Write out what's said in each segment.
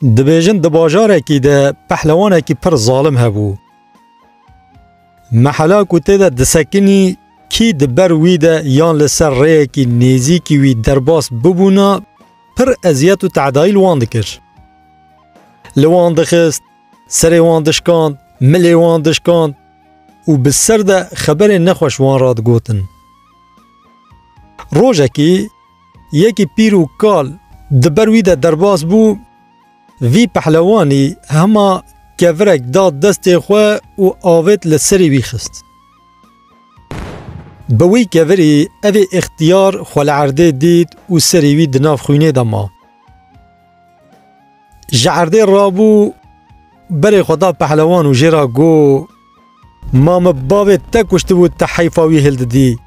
Dibêjin di bajarekî de pehlewanekî pir zalim hebû. Mehela ku tê de disekinî kî di ber wî de yan li ser rêyekî nêzîkî wî derbas bibûna pir eziyet û teedayî li wan dikir. Li wan dixist, serê wan dişkand, milê wan dişkand û bi ser de xeberên nexweş wan re digotin. Rojekî yekî pîr û kal di ber wî de derbas bû, vî pehlewanî hema kevirek da destê xwe û avêt li serî wî xist. Bi wî kevirî evê îxtiyar xwe li erdê dît û serî wî di nav xwînê de ma. Ji erdê rabû berê xwe da pehlewan û jê ra got. Ma min bavê te kuştibû te heyfa wî hêl didî.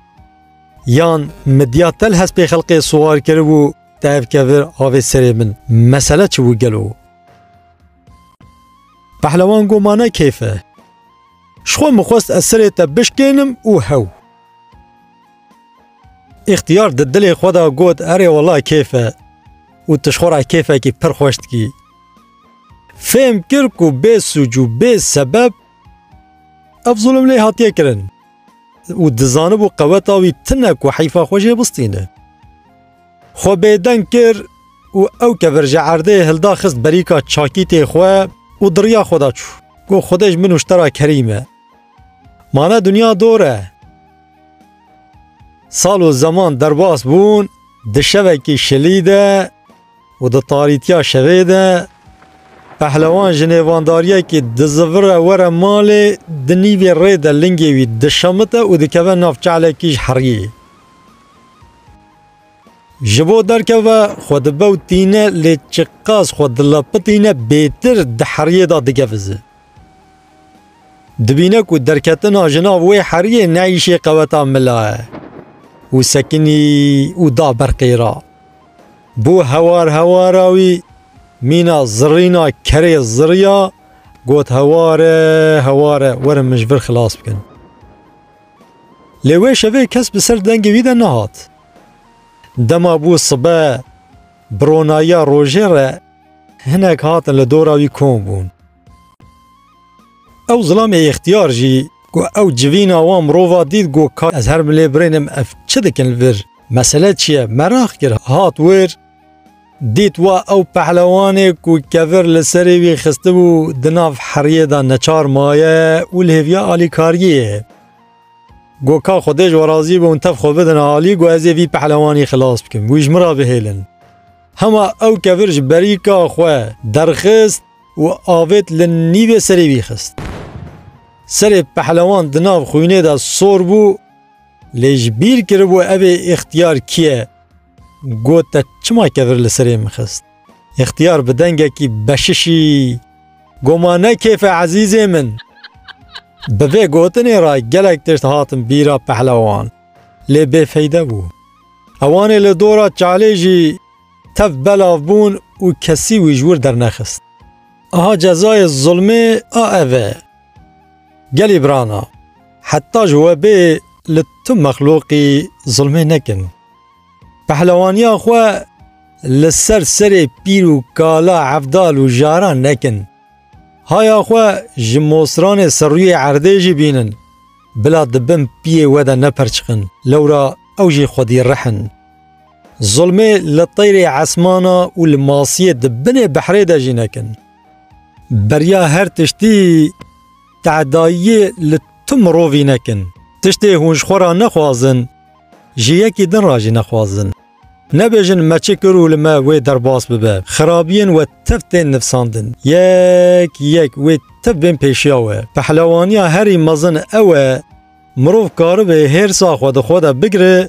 Yan min diya te li hespê xelkê siwar kiribû te ev kevir avê serê min. Mesele çi bû gelo? Pehlewan got ma ne keyf e. Ji xwe min xwest ez serê te bişkênim û hew. Îxtiyar di dilê xwe de got erê wela keyf e û tu ji xwe re keyfekî pir xweş dikî. Fêm kir ku bê sûc û bê sebeb ev zulm lê hatiye kirin û dizanibû qeweta wî tune ku heyfa xwe jê bistîne. Xwe bêdeng kir û ew kevir ji erdê hilda xist berîka çakîtê xwe û di riya xwe de çû. Got Xwedê ji min nûştera kerîm e. Mane dinya dor e. Sal û zeman derbas bûn, di şevekî şilî de, Û di tarîtiya şevê de pehlewan ji nêvandariyekî dizivire were malê, di nîvê rê de lingê wî dişemite û dikeve nav çalekî ji heriyê. Ji bo derkeve xwe dibewtîne lê çiqas xwe dilepitîne bêtir di heriyê de digevize. Dibîne ku derketina ji nav wê heriyê ne îşê qeweta mila ye û sekinî û da ber qêra. Bo hewar hewara wî mîna zirîna kerê ziriya got heware heware werin min ji vir xilas bikin. Lê wê şevê kes bi ser dengê wî de nehat. Dema bû sibe bi ronayiya rojê re hinek hatin li dora wî kom bûn. Ew zilamê ixtiyar jî ku ew civîna wan mirova dît got ka ez her bilê birênim ev çi dikin li vir? Mesele çi ye? Meraq kir hat wir dît wa ew pehlewanê ku kevir li serê wî xistibû di nav heriyê de neçar maye û li hêviya alîkariyê ye. Got ka xwedê ji we razî be hûn tev xwe bidin alî got ez ê vî pehlewanî xilas bikim wî ji min re bihêlin. Hema ew kevir ji berîka xwe derxist, û avêt li nîvê serê wî xist. Serê pehlewan di nav xwînê de sor bû lê ji bîr kiribû evê Îxtiyar kî ye. Got te çima kevir li serê min xist? Îxtiyar bi dengekî beşişî got ma ne kêf e ezîzê min. Bi vê gotinê re gelek tişt hatin bîra pehlewan lê bêfeyde bû. Ewanê li dora çalê jî Tev belav bûn û kesî wî ji wir dernexist. Aha cezayê zulmê a ev e. Gelî brana, heta ji we bê li tu mexluqî zulmê nekin. Pehlewaniya xwe li ser serê pîr û kala evdal û jaran nekin. Haya xwe ji mosranê serrûyê erdê jî bînin. Bila di bin piyê we de neperçiqin, lewra ew jî xwedî rih in. Zulmê li teyrê esmana û li masiyê di binê behrê de jî nekin. Beriya her tiştî tehdayiyê li tu mirovî nekin. Tiştê hûn ji xwe re nexwazin, ji yekî din re jî nexwazin. Nebêjin me çi kir û li me wê derbas bibe. Xirabiyên we tev tên nivsandin. Yek yek wê tev bên pêşiya we. Pehlewaniya herî mezin ew e, mirov karibe hêrsa xwe di xwe de bigire,